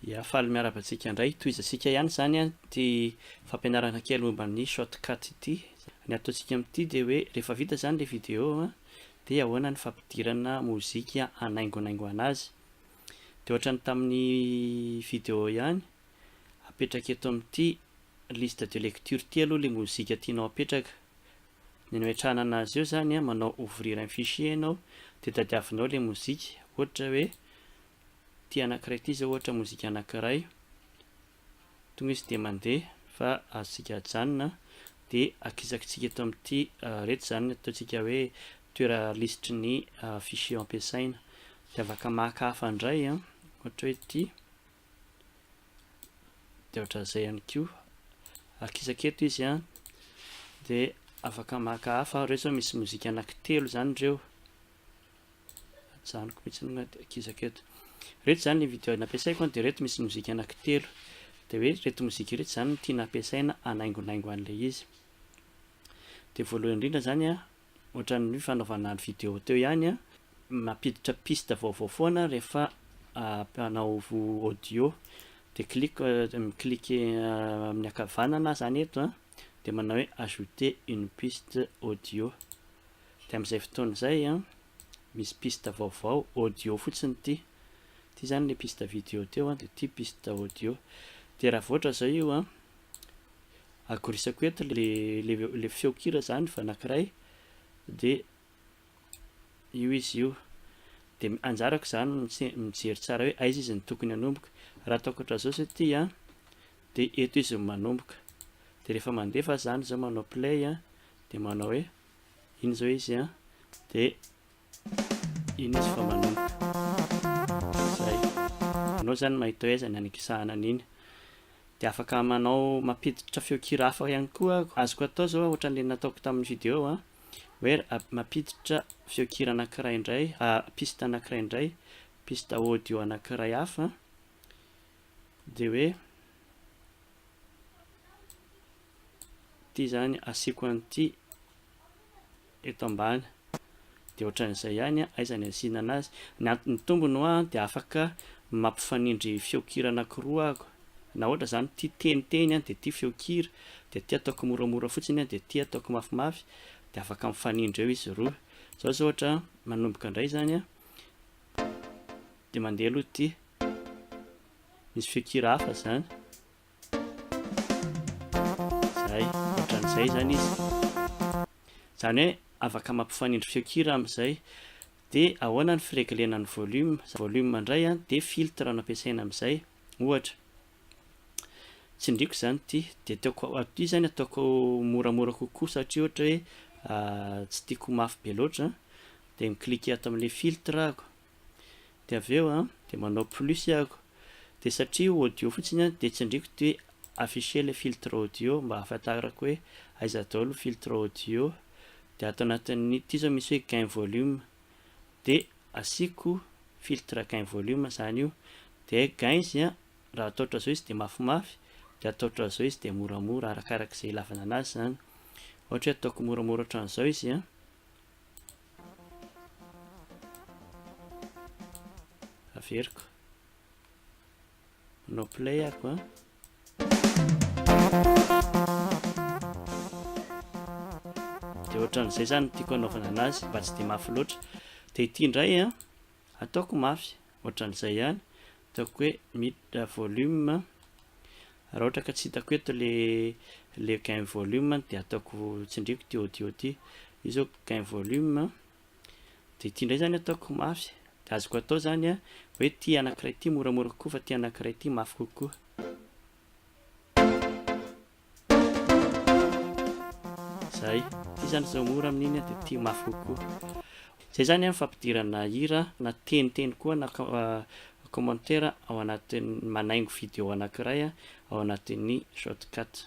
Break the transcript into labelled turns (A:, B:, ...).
A: Ya, faly miarahaba antsika indray. Tohizantsika ihany izany ity fampianarana kely momba ny shortcut ity. Ny ataontsika amin'ity dia hoe rehefa vita izany ilay vidéo dia ahoana ny fampidirana mozika hanaingonaingoana azy. Dia ohatra ny tamin'ny vidéo ihany, apetraka eto amin'ity liste de lecture ity aloha ilay mozika tianao apetraka. Ny anoetrahana anazy eo zany manao ouvrir un fichier ianao de tadiavinao le mozika ohatra hoe ity anakiray ity zao ohatra mozika anakiray tonga izy de mandeha fa azontsika ajanona de akisakitsika eto amin'ity reto zany ataontsika hoe toera lisitry ny fichier ampiasaina de afaka maka hafa ndray ohatra hoe ity dia ohatran'izay ihany koa akisaka eto izy an dia afaka maka hafa ireo zao misy mozika anaky telo izany ireo ajanoko mihitsy ny akisaka eto reto izany ny video nampiasaiko an dia reto misy mozika anaky telo dia hoe reto mozika ireto izany no tiana ampiasaina hanaingonaingo an'ilay izy dia voalohany indrindra izany an Ohatran'ny fanaovana ny video teo ihany an! Mampiditra piste vaovao foana rehefa mpanao audio. Dia clic, mi-cliquer amin'ny ankavanana aho izany eto an! Dia manao hoe ajouter une piste audio. Dia amin'izay fotoana izay an, misy piste vaovao audio fotsiny ity. Ity izany ilay piste video teo an, dia ity piste audio. Dia raha voatra izao io an, agorisako eto le le le feonkira zany fa anankiray de io izy io de anjarako zany mijery tsara hoe aiza izy ny tokony hanomboka raha ataoko hatrazao zao ty a de eto izy no manomboka de rehefa mandefa zany zao manao play a de manao hoe iny zao izy a de Iny izy vao manomboka. Izay. Ianao izany mahita hoe aiza ny anekisahana an'iny. Dia afaka manao, mampiditra feon-kira hafa ihany koa aho. Azoko atao izao, ohatran'ilay nataoko tamin'ny video hoe mampiditra feon-kira anankiray indray, piste anankiray indray, piste audio anankiray hafa, dia hoe ity izany asiako an'ity. eto ambany dia ohatran'izay ihany aiza ny asiana anazy ny antony tombony hoa dia afaka mampifanindry feon-kira anankiroa aho na ohatra izany ity teniteny dia ity feon-kira dia ity ataoko moramora fotsiny dia ity ataoko mafimafy dia afaka mifanindry eo izy roa izao izao ohatra manomboka indray izany dia mandeha aloha ity misy feon-kira hafa izany Zay, ohatran'izay zany izy. Zany hoe afaka mampifanindry feon-kira amin'izay. De ahoana ny fireglena ny volume? Volume indray an, de filtre no ampiasaina amin'izay. Ohatra. Tsindriako izany ity, de ataoko, ity zany ataoko moramora kokoa satria ohatra hoe tsy tiako ho mafy be loatra, de mi-cliquer ato amin'ilay filtre aho. Dia avy eo an, dia manao plus aho, dia satria io audio fotsiny an, dia tsindriako ity hoe afficher le filtre audio mba hahafantarako hoe aiza daholo ny filtre audio, dia ato anatin'ny ity izao misy hoe gain volume, dia asiako filtre gain volume izany io, dia gain izy an, raha atao ohatran'izao izy dia mafimafy, dia atao ohatran'izao izy dia moramora, arakarak'izay ilavana anazy izany, ohatra hoe ataoko moramora ohatran'izao izy an. averiko manao play ako an dia ohatran'izay zany tiako anaovana anazy mba tsy dia mafy loatra dia ity indray an ataoko mafy Ohatran'izay ihany, ataoko hoe miditra volume, raha ohatra ka tsy hitako eto le le gain volume dia ataoko tsindriako ity audio ity, io zao gain volume, dia ity indray zany ataoko mafy, dia azoko atao zany an, hoe ity anankiray ity moramora kokoa fa ity anankiray ity mafy kokoa. Zay, ty zany zao mora amin'iny an, dia tia mafy kokoa. Zay zany an fampidirana hira na teniteny koa na commentaire ao anatin'ny manaingo video anankiray ao anatin'ny shotcut.